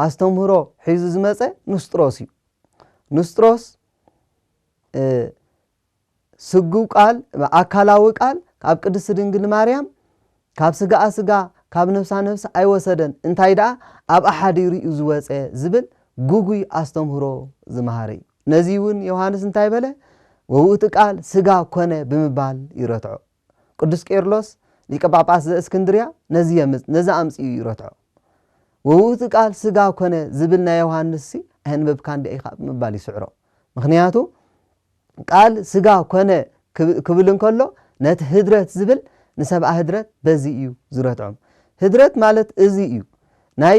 A: ኣስተምህሮ ሒዙ ዝመጸ ንስጥሮስ እዩ። ንስጥሮስ ስግው ቃል ኣካላዊ ቃል ካብ ቅድስቲ ድንግል ማርያም ካብ ስጋኣ ስጋ ካብ ነፍሳ ነፍሲ ኣይወሰደን እንታይ ደኣ ኣብኣ ሓዲሩ እዩ ዝወጸ ዝብል ግጉይ ኣስተምህሮ ዝመሃረ እዩ። ነዚ እውን ዮሃንስ እንታይ በለ ወውእቲ ቃል ስጋ ኮነ ብምባል ይረትዖ። ቅዱስ ቄርሎስ ሊቀ ጳጳስ ዘእስክንድርያ ነዚ የምጽ ነዚ ኣምጺኡ እዩ ረትዖ ወውእቱ ቃል ስጋ ኮነ ዝብል ናይ ዮሃንስሲ ኣየንበብካን ዲኣ ኢኻ ብምባል ይስዕሮ ምኽንያቱ ቃል ስጋ ኮነ ክብል እንከሎ ነቲ ህድረት ዝብል ንሰብኣ ህድረት በዚ እዩ ዝረትዖም ህድረት ማለት እዚ እዩ ናይ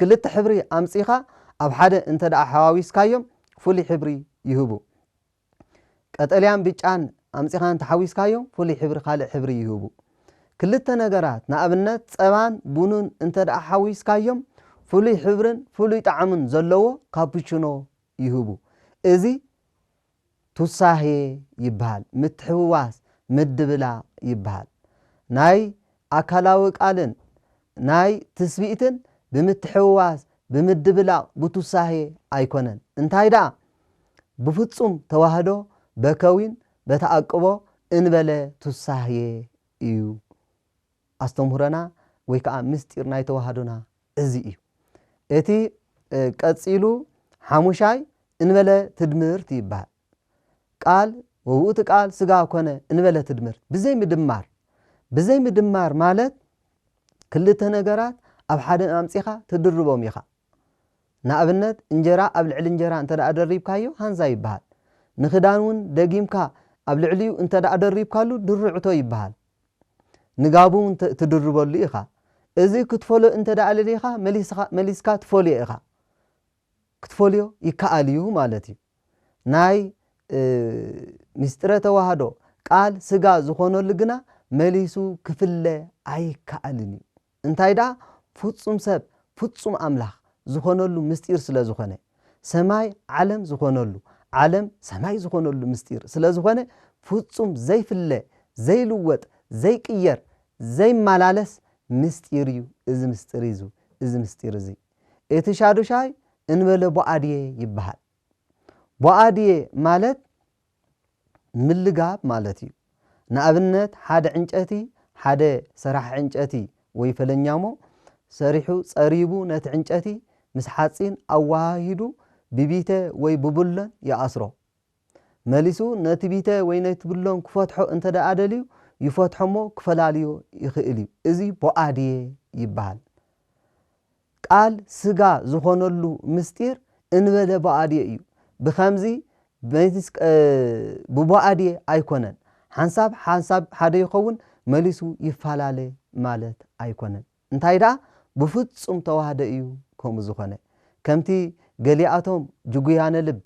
A: ክልተ ሕብሪ ኣምጺኻ ኣብ ሓደ እንተ ሓዋዊስካዮም ፍሉይ ሕብሪ ይህቡ። ቀጠልያን ብጫን ኣምጺኻ እንተ ሓዊስካዮም ፍሉይ ሕብሪ ካልእ ሕብሪ ይህቡ። ክልተ ነገራት ንኣብነት ጸባን ቡንን እንተ ሓዊስካዮም ፍሉይ ሕብርን ፍሉይ ጣዕምን ዘለዎ ካፑችኖ ይህቡ። እዚ ቱሳሄ ይበሃል። ምትሕውዋስ፣ ምድብላቕ ይበሃል። ናይ ኣካላዊ ቃልን ናይ ትስብእትን ብምትሕውዋስ፣ ብምድብላቕ፣ ብቱሳሄ ኣይኮነን። እንታይ ደኣ ብፍጹም ተዋህዶ በከዊን በተኣቅቦ እንበለ ቱሳሄ እዩ ኣስተምህሮና ወይ ከኣ ምስጢር ናይ ተዋህዶና እዚ እዩ እቲ ቀጺሉ ሓሙሻይ እንበለ ትድምርት ይበሃል። ቃል ወውእቱ ቃል ሥጋ ኮነ እንበለ ትድምርት ብዘይ ምድማር ብዘይ ምድማር ማለት ክልተ ነገራት ኣብ ሓደ ኣምጺኻ ትድርቦም ኢኻ። ንኣብነት እንጀራ ኣብ ልዕሊ እንጀራ እንተ ደሪብካዮ ሃንዛ ይበሃል። ንክዳን እውን ደጊምካ ኣብ ልዕሊኡ እንተ ደሪብካሉ ድርዕቶ ይበሃል። ንጋብ እውን ትድርበሉ ኢኻ። እዚ ክትፈሎ እንተ ደኣ ደሊኻ መሊስካ ትፈልዮ ኢኻ። ክትፈልዮ ይከኣል እዩ ማለት እዩ። ናይ ምስጢረ ተዋህዶ ቃል ስጋ ዝኾነሉ ግና መሊሱ ክፍለ ኣይከኣልን እዩ። እንታይ ደኣ ፍጹም ሰብ ፍጹም ኣምላኽ ዝኾነሉ ምስጢር ስለ ዝኾነ፣ ሰማይ ዓለም ዝኾነሉ፣ ዓለም ሰማይ ዝኾነሉ ምስጢር ስለ ዝኾነ፣ ፍጹም ዘይፍለ፣ ዘይልወጥ፣ ዘይቅየር፣ ዘይማላለስ ምስጢር እዩ እዚ ምስጢር እዚ እዚ ምስጢር እዚ። እቲ ሻዱሻይ እንበለ ቦኣድየ ይበሃል። ቦኣድየ ማለት ምልጋብ ማለት እዩ። ንኣብነት ሓደ ዕንጨቲ ሓደ ሰራሒ ዕንጨቲ ወይ ፈለኛሞ ሰሪሑ ጸሪቡ ነቲ ዕንጨቲ ምስ ሓጺን ኣወሃሂዱ ብቢተ ወይ ብቡለን ይኣስሮ። መሊሱ ነቲ ቢተ ወይ ነቲ ቡለን ክፈትሖ እንተደኣ ደልዩ ይፈትሖሞ ክፈላልዮ ይኽእል እዩ። እዚ ቦኣድየ ይበሃል። ቃል ስጋ ዝኾነሉ ምስጢር እንበለ ብኣዴ እዩ ብከምዚ ብቡኣዴ ኣይኮነን ሓንሳብ ሓንሳብ ሓደ ይኸውን መሊሱ ይፋላለ ማለት ኣይኮነን እንታይ ደኣ ብፍጹም ተዋህደ እዩ ከምኡ ዝኾነ ከምቲ ገሊኣቶም ጅጉያነ ልብ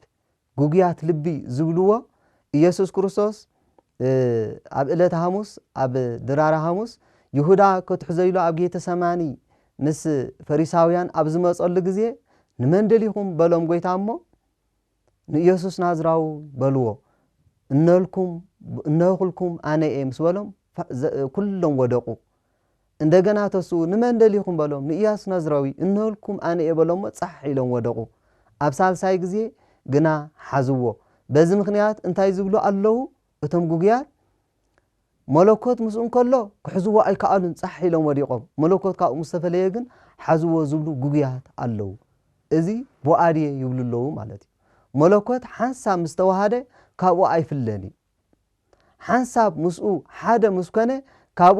A: ግጉያት ልቢ ዝብልዎ ኢየሱስ ክርስቶስ ኣብ እለተ ሃሙስ ኣብ ድራረ ሃሙስ ይሁዳ ከትሕዞ ኢሉ ኣብ ጌተ ሰማኒ ምስ ፈሪሳውያን ኣብ ዝመጸሉ ግዜ ንመን ደሊኹም በሎም ጎይታ እሞ ንኢየሱስ ናዝራዊ በልዎ እነልኩም እነኹልኩም ኣነ እየ ምስ በሎም ኩሎም ወደቁ እንደገና ተስኡ ንመን ደሊኹም በሎም ንእያሱ ናዝራዊ እንሆልኩም ኣነ እየ በሎሞ ጻሕ ኢሎም ወደቑ ኣብ ሳልሳይ ግዜ ግና ሓዝዎ በዚ ምኽንያት እንታይ ዝብሉ ኣለዉ እቶም ግጉያት መሎኮት ምስኡ እንከሎ ክሕዝዎ ኣይከኣሉን ጻሕ ኢሎም ወዲቖም መሎኮት ካብኡ ምስ ተፈለየ ግን ሓዝዎ ዝብሉ ግጉያት ኣለዉ እዚ ቦኣድየ ይብሉ ኣለዉ ማለት እዩ መሎኮት ሓንሳብ ምስ ተዋሃደ ካብኡ ኣይፍለን እዩ ሓንሳብ ምስኡ ሓደ ምስ ኮነ ካብኡ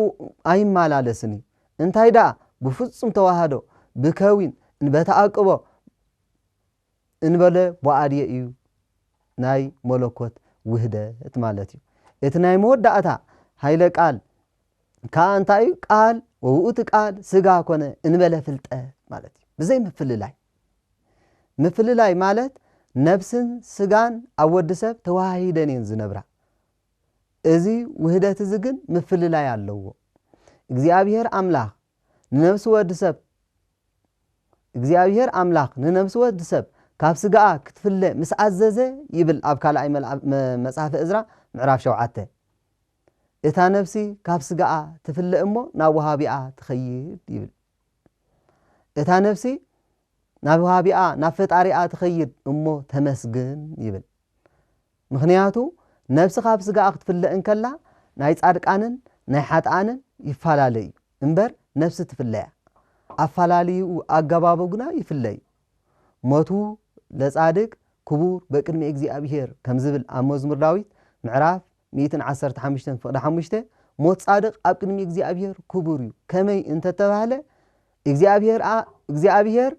A: ኣይማላለስን እዩ እንታይ ደኣ ብፍጹም ተዋህዶ ብከዊን እንበተኣቅቦ እንበለ ቦኣድየ እዩ ናይ መለኮት ውህደት ማለት እዩ እቲ ናይ መወዳእታ ሃይለ ቃል ከኣ እንታይ እዩ ቃል ወውእቱ ቃል ስጋ ኮነ እንበለ ፍልጠት ማለት እዩ ብዘይ ምፍልላይ ምፍልላይ ማለት ነብስን ስጋን ኣብ ወዲ ሰብ ተወሃሂደን እየን ዝነብራ። እዚ ውህደት እዚ ግን ምፍልላይ ኣለዎ። እግዚኣብሄር ኣምላኽ ንነብሲ ወዲ ሰብ እግዚኣብሄር ኣምላኽ ንነብሲ ወዲ ሰብ ካብ ስጋኣ ክትፍለ ምስ ኣዘዘ ይብል ኣብ ካልኣይ መጽሓፈ እዝራ ምዕራፍ ሸውዓተ እታ ነብሲ ካብ ስጋኣ ትፍለ እሞ ናብ ወሃቢኣ ትኸይድ ይብል። እታ ነፍሲ ናብ ዋሃቢኣ ናብ ፈጣሪኣ ትኸይድ እሞ ተመስግን ይብል ምኽንያቱ ነፍሲ ካብ ስጋኣ ክትፍለ እንከላ ናይ ጻድቃንን ናይ ሓጥኣንን ይፋላለ እዩ እምበር ነፍሲ ትፍለያ ኣፋላልይኡ ኣገባቡ ግና ይፍለ እዩ ሞቱ ለጻድቅ ክቡር በቅድሚ እግዚኣብሔር ከምዝብል ኣብ መዝሙር ዳዊት ምዕራፍ ሚእትን ዓሰርተ ሓሙሽተን ፍቕዲ ሓሙሽተ፣ ሞት ጻድቕ ኣብ ቅድሚ እግዚኣብሄር ክቡር እዩ፣ ከመይ እንተ ተባህለ፣ እግዚኣብሄርኣ እግዚኣብሄር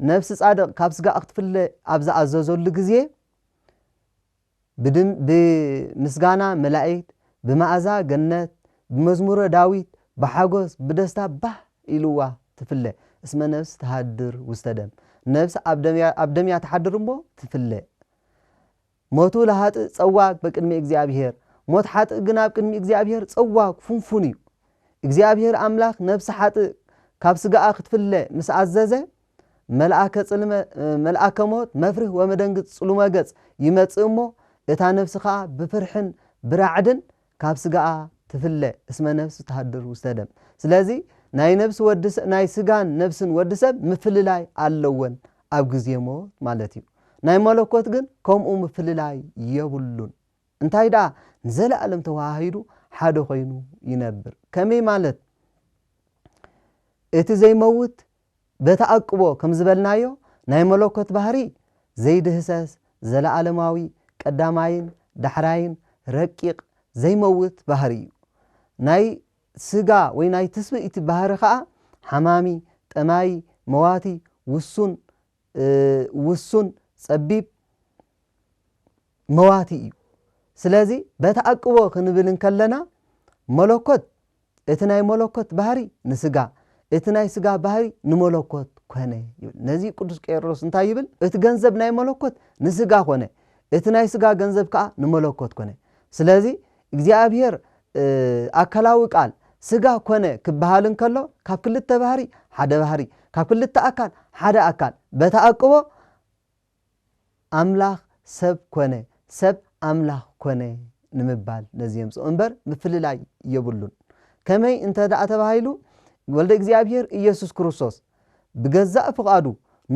A: ነፍሲ ጻድቕ ካብ ስጋኣ ክትፍለ ኣብ ዝኣዘዘሉ ግዜ፣ ብድም ብምስጋና መላኢክት፣ ብመኣዛ ገነት፣ ብመዝሙረ ዳዊት፣ ብሓጐስ፣ ብደስታ ባህ ኢልዋ ትፍለ፣ እስመ ነፍስ ትሃድር ውስተ ደም፣ ነፍሲ ኣብ ደም እያ ኣብ ደም እያ ትሓድር እሞ ትፍለ። ሞቱ ለኃጥእ ጸዋግ በቅድሚ እግዚኣብሔር፣ ሞት ሓጥእ ግን ኣብ ቅድሚ እግዚኣብሔር ጸዋግ፣ ፍንፉን፣ እዩ። እግዚኣብሔር ኣምላኽ ነፍሲ ሓጥእ ካብ ሥጋኣ ክትፍለ ምስ ኣዘዘ፣ መልኣከ ጽልመ መልኣከ ሞት መፍርህ ወመደንግጽ ጽሉመ ገጽ ይመጽእ እሞ እታ ነፍሲ ከኣ ብፍርሕን ብራዕድን ካብ ስጋኣ ትፍለ እስመ ነፍስ ትሃድር ውስተ ደም ስለዚ ናይ ነብሲ ወዲ ናይ ስጋን ነብስን ወዲ ሰብ ምፍልላይ ኣለወን ኣብ ግዜ ሞት ማለት እዩ ናይ መለኮት ግን ከምኡ ምፍልላይ የብሉን እንታይ ደኣ ንዘለኣለም ተወሃሂዱ ሓደ ኮይኑ ይነብር ከመይ ማለት እቲ ዘይመውት በተኣቅቦ ከም ዝበልናዮ ናይ መሎኮት ባህሪ ዘይድህሰስ ዘለኣለማዊ ቀዳማይን ዳሕራይን ረቂቅ ዘይመውት ባህሪ እዩ። ናይ ስጋ ወይ ናይ ትስብእቲ ባህሪ ከኣ ሓማሚ፣ ጠማዪ፣ መዋቲ፣ ውሱን፣ ውሱን ጸቢብ መዋቲ እዩ። ስለዚ በተኣቅቦ ክንብል እንከለና መለኮት እቲ ናይ መለኮት ባህሪ ንስጋ እቲ ናይ ስጋ ባህሪ ንመለኮት ኮነ ይብል። ነዚ እዩ ቅዱስ ቄርሎስ እንታይ ይብል? እቲ ገንዘብ ናይ መለኮት ንስጋ ኮነ፣ እቲ ናይ ስጋ ገንዘብ ከኣ ንመለኮት ኮነ። ስለዚ እግዚኣብሔር ኣካላዊ ቃል ስጋ ኮነ ክበሃል እንከሎ ካብ ክልተ ባህሪ ሓደ ባህሪ ካብ ክልተ ኣካል ሓደ ኣካል በተኣቅቦ ኣምላኽ ሰብ ኮነ ሰብ ኣምላኽ ኮነ ንምባል ነዚ የምጽኦ እምበር ምፍልላይ የብሉን ከመይ እንተ ደኣ ተባሂሉ ወልደ እግዚኣብሔር ኢየሱስ ክርስቶስ ብገዛእ ፍቓዱ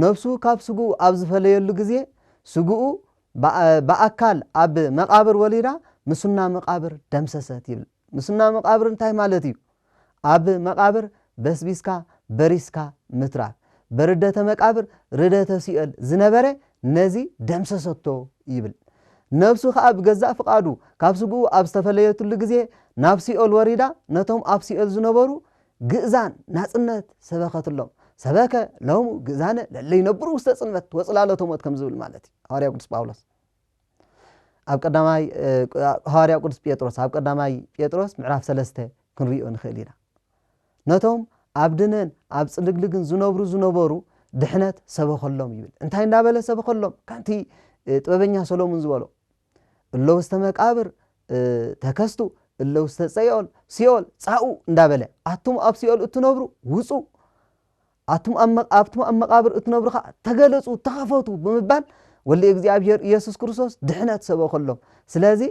A: ነፍሱ ካብ ስግኡ ኣብ ዝፈለየሉ ግዜ ስግኡ ብኣካል ኣብ መቓብር ወሊዳ ምስና መቓብር ደምሰሰት ይብል። ምስና መቓብር እንታይ ማለት እዩ? ኣብ መቓብር በስቢስካ በሪስካ ምትራፍ። በርደተ መቃብር ርደተ ሲኦል ዝነበረ ነዚ ደምሰሰቶ ይብል። ነብሱ ከኣ ብገዛእ ፍቓዱ ካብ ስግኡ ኣብ ዝተፈለየትሉ ግዜ ናብ ሲኦል ወሪዳ ነቶም ኣብ ሲኦል ዝነበሩ ግእዛን ናጽነት ሰበኸትሎም፣ ሰበከ ሎሙ ግእዛነ ለለ ይነብሩ ውስተ ጽልመት ወጽላሎተ ሞት ከም ዝብል ማለት እዩ ሃዋርያው ቅዱስ ጳውሎስ ኣብ ቀዳማይ ሃዋርያው ቅዱስ ጴጥሮስ ኣብ ቀዳማይ ጴጥሮስ ምዕራፍ ሰለስተ ክንሪኦ ንኽእል ኢና ነቶም ኣብ ድነን ኣብ ጽልግልግን ዝነብሩ ዝነበሩ ድሕነት ሰበኸሎም ይብል እንታይ እንዳበለ ሰበኸሎም ከምቲ ጥበበኛ ሰሎሙን ዝበሎ እለ ውስተ መቃብር ተከስቱ እለ ውስተ ጸዮል ሲኦል ጻኡ እንዳበለ ኣቱም ኣብ ሲኦል እትነብሩ ውጹ ኣቱም ኣብቱም ኣብ መቃብር እትነብሩ ከዓ ተገለጹ ተኸፈቱ ብምባል ወሊ እግዚኣብሔር ኢየሱስ ክርስቶስ ድሕነት ሰበኸሎም ስለዚ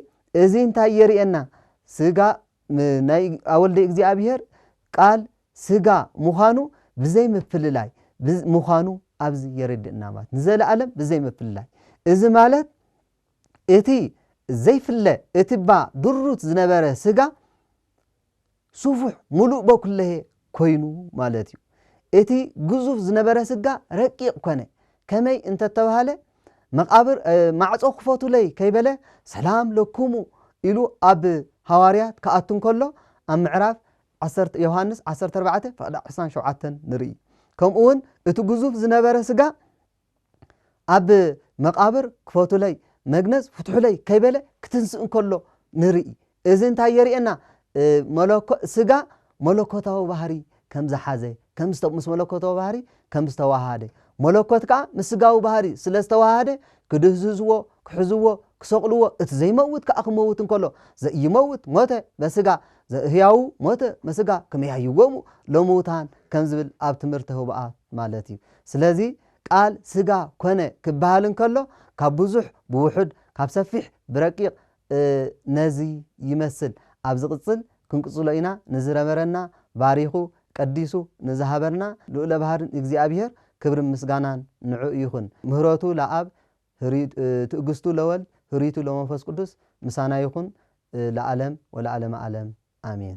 A: እዚ እንታይ የርእየና ስጋ ናይ ኣወልደ እግዚኣብሔር ቃል ሥጋ ምዃኑ ብዘይ ምፍልላይ ምዃኑ ኣብዚ የረድእና ማለት ንዘለዓለም ብዘይ ምፍልላይ እዚ ማለት እቲ ዘይፍለ እቲባ ድሩት ዝነበረ ሥጋ ሱፉሕ ሙሉእ በኩለሔ ኰይኑ ማለት እዩ። እቲ ግዙፍ ዝነበረ ስጋ ረቂቕ ኰነ። ከመይ እንተ ተባህለ፣ መቓብር፣ ማዕጾ ክፈቱለይ ከይበለ ሰላም ለኩሙ ኢሉ ኣብ ሃዋርያት ክኣቱ እንከሎ ኣብ ምዕራፍ ዓሰርተ ዮሃንስ ዓሰርተ ኣርባዕተ ፍቕዲ ዕስራን ሸውዓተን ንርኢ። ከምኡውን እቲ ግዙፍ ዝነበረ ስጋ፣ ኣብ መቓብር ክፈቱለይ መግነዝ ፍትሑለይ ከይበለ ክትንስእ እንከሎ ንርኢ እዚ እንታይ የርእየና ስጋ መለኮታዊ ባህሪ ከም ዝሓዘ ምስ መለኮታዊ ባህሪ ከም ዝተዋሃደ መለኮት ከዓ ምስ ስጋዊ ባህሪ ስለ ዝተዋሃደ ክድህዝዝዎ ክሕዝዎ ክሰቕልዎ እቲ ዘይመውት ከዓ ክመውት እንከሎ ዘይመውት ሞተ በስጋ ህያው ሞተ መስጋ ክመያይዎሙ ለምውታን ከም ዝብል ኣብ ትምህርቲ ህቡኣት ማለት እዩ ስለዚ ቃል ስጋ ኮነ ክበሃል እንከሎ ካብ ብዙሕ ብውሑድ ካብ ሰፊሕ ብረቂቕ ነዚ ይመስል ኣብ ዝቕጽል ክንቅጽሎ ኢና ንዝነበረና ባሪኹ ቀዲሱ ንዝሃበና ልኡለ ባህርን እግዚኣብሔር ክብርን ምስጋናን ንዕኡ ይኹን ምህረቱ ለኣብ ትእግስቱ ለወልድ ህሪቱ ለመንፈስ ቅዱስ ምሳና ይኹን ለዓለም ወለዓለመ ዓለም ኣሜን።